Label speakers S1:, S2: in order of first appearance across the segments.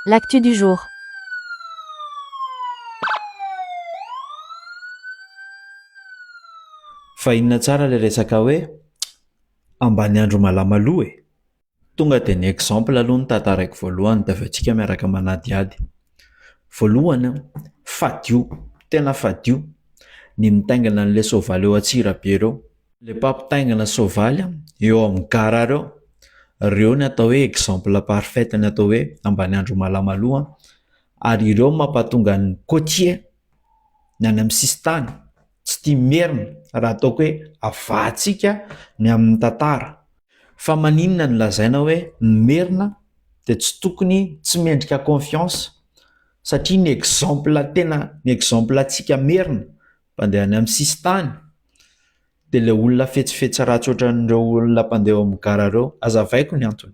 S1: L'actu du jour.
S2: Fa inona tsara le resaka hoe ambaniandro malama aloha e? Tonga dia ny exemple aloha no tantaraiko voalohany dia avy eo tsika miaraka manadihady. Voalohany an, fadio, tena fadio ny mitaingina an'ilay soavaly eo Antsirabe ireo. le mpampitaingina soavaly eo amin'ny gara reo reo ny atao hoe exemple parfaite ny atao hoe ambaniandro malamaloo ary ireo mampatonga ny cotier ny any amin'ny sisintany tsy tia merina raha ataoko hoe avahantsika ny amin'ny tantara fa maninona ny lazaina hoe ny merina dia tsy tokony tsy mendrika confiance satria ny exemple tena ny exemple antsika merina Mpandeha any amin'ny sisin-tany, dia ilay olona fetsifetsy ratsy ohatran'ireo olona mpandeha eo amin'ny gara ireo. Azavaiko ny antony.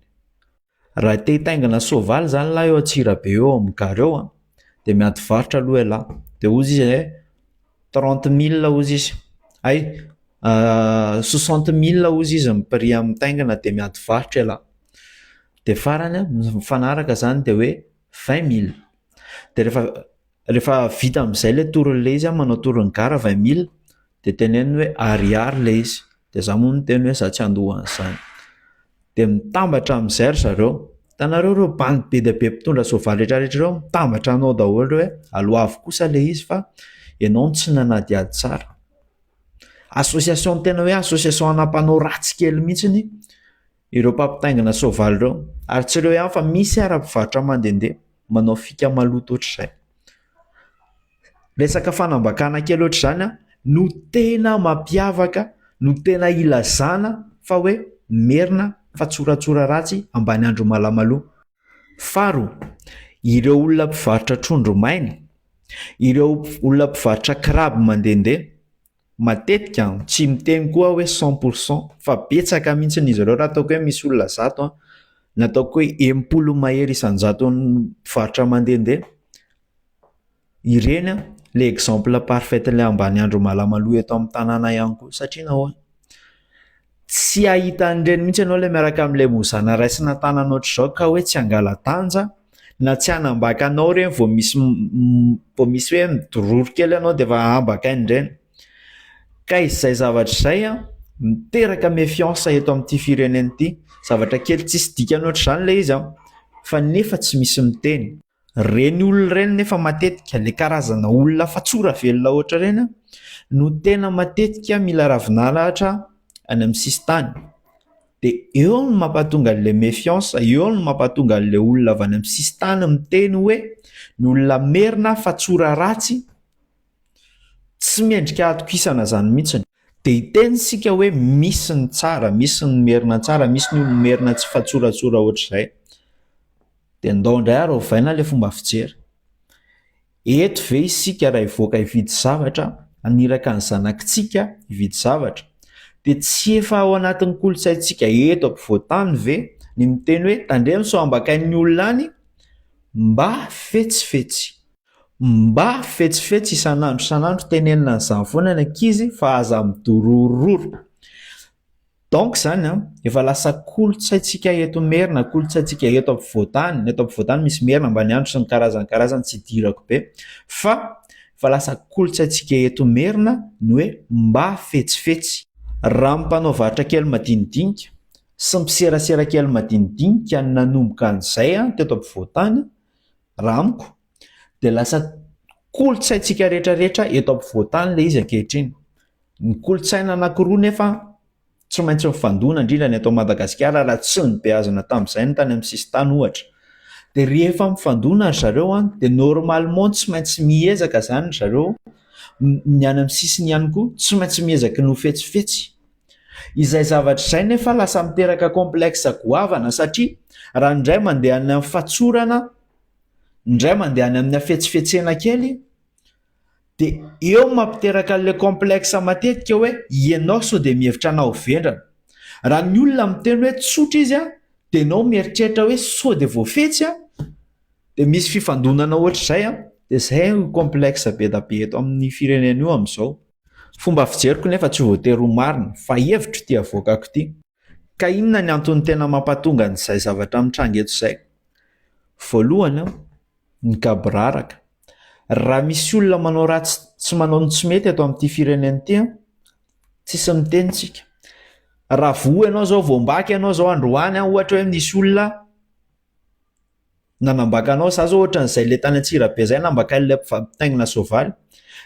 S2: Raha te hitaingina soavaly izany lahy eo Antsirabe eo amin'ny gara eo an, dia miady varotra aloha ialahy. Dia hoy izy hoe trente milles hoy izy, hay, soixante milles hoy izy ny prix amin'ny mitaingina dia miady varotra ialahy. Dia farany an, mifanaraka izany dia hoe vingt milles. Dia rehefa Rehefa vita amin'izay ilay torin'ilay izy, manao torin'ny gara vingt mille, dia teneno hoe ariary ilay izy, dia izaho moa miteny hoe izaho tsy handoa an'izany, dia mitambatra amin'izay ry zareo, hitanareo ireo bandy be dia be mpitondra soavaly rehetrarehetra ireo mitambatra anao daholo hoe aloavy kosa ilay izy fa ianao no tsy nanadihady tsara, association tena hoe association ana-mpanao ratsy kely mihintsy, ireo mpampitaingina soavaly ireo ary tsy ireo ihany fa misy ary mpivarotra mandehandeha manao fika maloto ohatr'izay. Resaka fanambakana kely ohatr'izany no tena mampiavaka, no tena ilazana fa hoe merina fa tsoratsora ratsy ambany andro malamalao. Faharoa, ireo olona mpivarotra trondro maina, ireo olona mpivarotra kiraby mandehandeha Matetika tsy miteny koa aho hoe cent pour cent fa betsaka mihitsy izy ireo raha ataoko hoe misy olona zato na ataoko hoe enim-polo mahery isan-jatony mpivarotra mandehandeha, ireny ilay exemple parfait ilay ambaniandro Malamaloa eto amin'ny tanàna ihany koa satria nahoana? Tsy hahita an'ireny mihitsy ianao ilay miaraka amin'ilay mozana raisina an-tanana ohatr'izao ka hoe tsy hangala-danja na tsy hanambaka anao ireny vao misy vao misy hoe midororo kely ianao dia efa ambakainy ireny. Ka izay zavatra izay an, miteraka méfiance eto amin'ity firenena ity. Zavatra kely tsisy dikany ohatr'izany ilay izy an, fa nefa tsy misy miteny. Ireny olona ireny nefa matetika, ilay karazana olona fatsora velona ohatr'ireny an, no tena matetika mila ravin'alahatra any amin'ny sisintany. Dia eo no mampahatonga an'ilay méfiance, eo no mampahatonga an'ilay olona avy any amin'ny sisintany miteny hoe ny olona merina fatsora ratsy. Tsy mendrika hatokisana izany mihitsy. Dia hiteny isika hoe misy ny tsara, misy ny merina tsara, misy ny olona merina tsy mifatsoratsora ohatr'izay. Dia ndao indray ary ovaina ilay fomba fijery. Eto ve isika raha hivoaka hividy zavatra, haniraka ny zanakitsika hividy zavatra, dia tsy efa ao anatin'ny kolontsaintsika eto ampovoan-tany ve ny miteny hoe tandremo sao ambakain'ny olona any mba fetsifetsy. Mba fetsifetsy isan'andro isan'andro tenenina an'izany foana ny ankizy fa aza midororororo. Donc izany an, efa lasa kolontsaintsika eto Merina, kolontsaintsika eto ampovoan-tany, eto ampovoan-tany misy Merina, Ambaniandro sy ny karazany karazany tsy idirako be fa efa lasa kolontsaintsika eto Merina ny hoe mba fetsifetsy. Raha ny mpanao varotra kely madinidinika sy mpiserasera kely madinidinika no nanomboka an'izay teto ampovoan-tany, Raha amiko dia lasa kolontsaintsika rehetra rehetra eto ampovoantany ilay izy ankehitriny. Ny kolontsaina anankiroa nefa tsy maintsy mifandona indrindra ny eto Madagasikara raha tsy nibeazina tamin'izay ny tany amin'ny sisintany ohatra. Dia rehefa mifandona ry zareo an, dia normalement tsy maintsy miezaka izany ry zareo, ny any amin'ny sisiny ihany koa tsy maintsy miezaka ny ho fetsifetsy. Izay zavatra izay nefa lasa miteraka complexe goavana satria raha indray mandeha any amin'ny fatsorana, indray mandeha any amin'ny hafetsifetsena kely dia eo no mampiteraka an'ilay complexe matetika hoe ianao sao dia mihevitra anao ho vendrana. Raha ny olona miteny hoe tsotra izy an, dia ianao mieritreritra hoe sao dia voafetsy an, dia misy fifandonana ohatr'izay an, dia izay no complexe be dia be eto amin'ny firenena io amin'izao. Fomba fijeriko nefa tsy voatery ho marina, fa hevitro ity avoakako ity. Ka inona ny antony tena mampatonga an'izay zavatra mitranga eto izay? Voalohany, ny gaboraraka. Raha misy olona manao ratsy sy manao ny tsy mety eto amin'ity firenena ity, tsisy miteny isika. Raha voa ianao izao, voambaka ianao izao androany ohatra hoe misy olona, Nanambaka anao za zao ohatrany zay le tany antsirabe zay nambakainy le mpitaingina soavaly,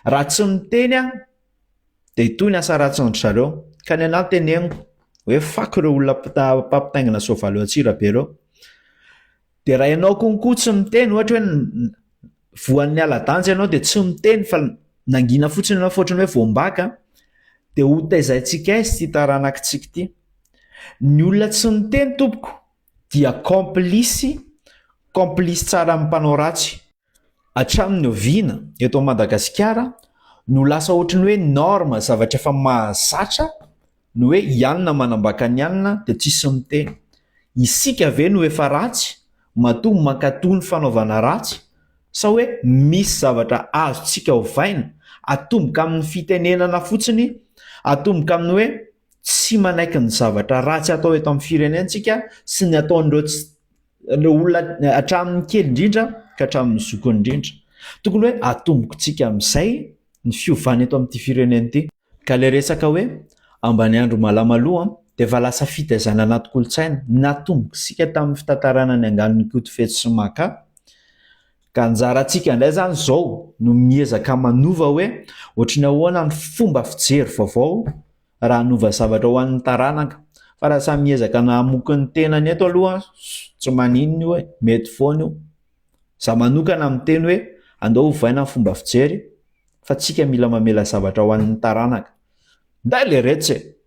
S2: raha tsy miteny aho de itoy ny asa ratsiny ry zareo, ka ny anah teneniko hoe fako ireo olona mpitaingina soavaly eo antsirabe ireo, de raha ianao konko tsy miteny ohatra hoe voan'ny ala-danja ianao de tsy miteny fa nangina fotsiny ianao fa ohatrany hoe voambaka de ho taizaintsika aiza ity taranakitsika ity, ny olona tsy miteny tompoko dia kaompilisy, kaompilisy tsara amin'ny mpanao ratsy. Hatramin'ny oviana, eto Madagasikara, no lasa ohatran'ny hoe norme, zavatra efa mahazatra, ny hoe i anona manambaka ny anona dia tsisy miteny? Isika ve no efa ratsy, matoa mankatoa ny fanaovana ratsy? Sa hoe misy zavatra azontsika ovaina? Atomboka amin'ny fitenenana fotsiny, atomboka amin'ny hoe. tsy manaiky ny zavatra ratsy atao eto amin'ny firenentsika sy ny ataon'ireo tsy ireo olona hatramin'ny kely indrindra ka hatramin'ny zokiny indrindra. Tokony hoe atombokontsika amin'izay ny fiovana eto amin'ity firenena ity. Ka ilay resaka hoe Ambaniandro Malamaloa dia efa lasa fitaizana anaty kolontsaina, natombok'isika tamin'ny fitantarana ny anganon'Ikotofetsy sy Maka, Ka anjarantsika indray izany izao no miezaka manova hoe ohatry ny ahoana ny fomba fijery vaovao raha hanova zavatra ho an'ny taranaka. Fa raha samy miezaka nahamoky ny tenany eto aloha tsy maninona io e, mety foana io. Za manokana miteny hoe andao ovaina ny fomba fijery fa tsika mila mamela zavatra ho an'ny taranaka. Nday le retsy e!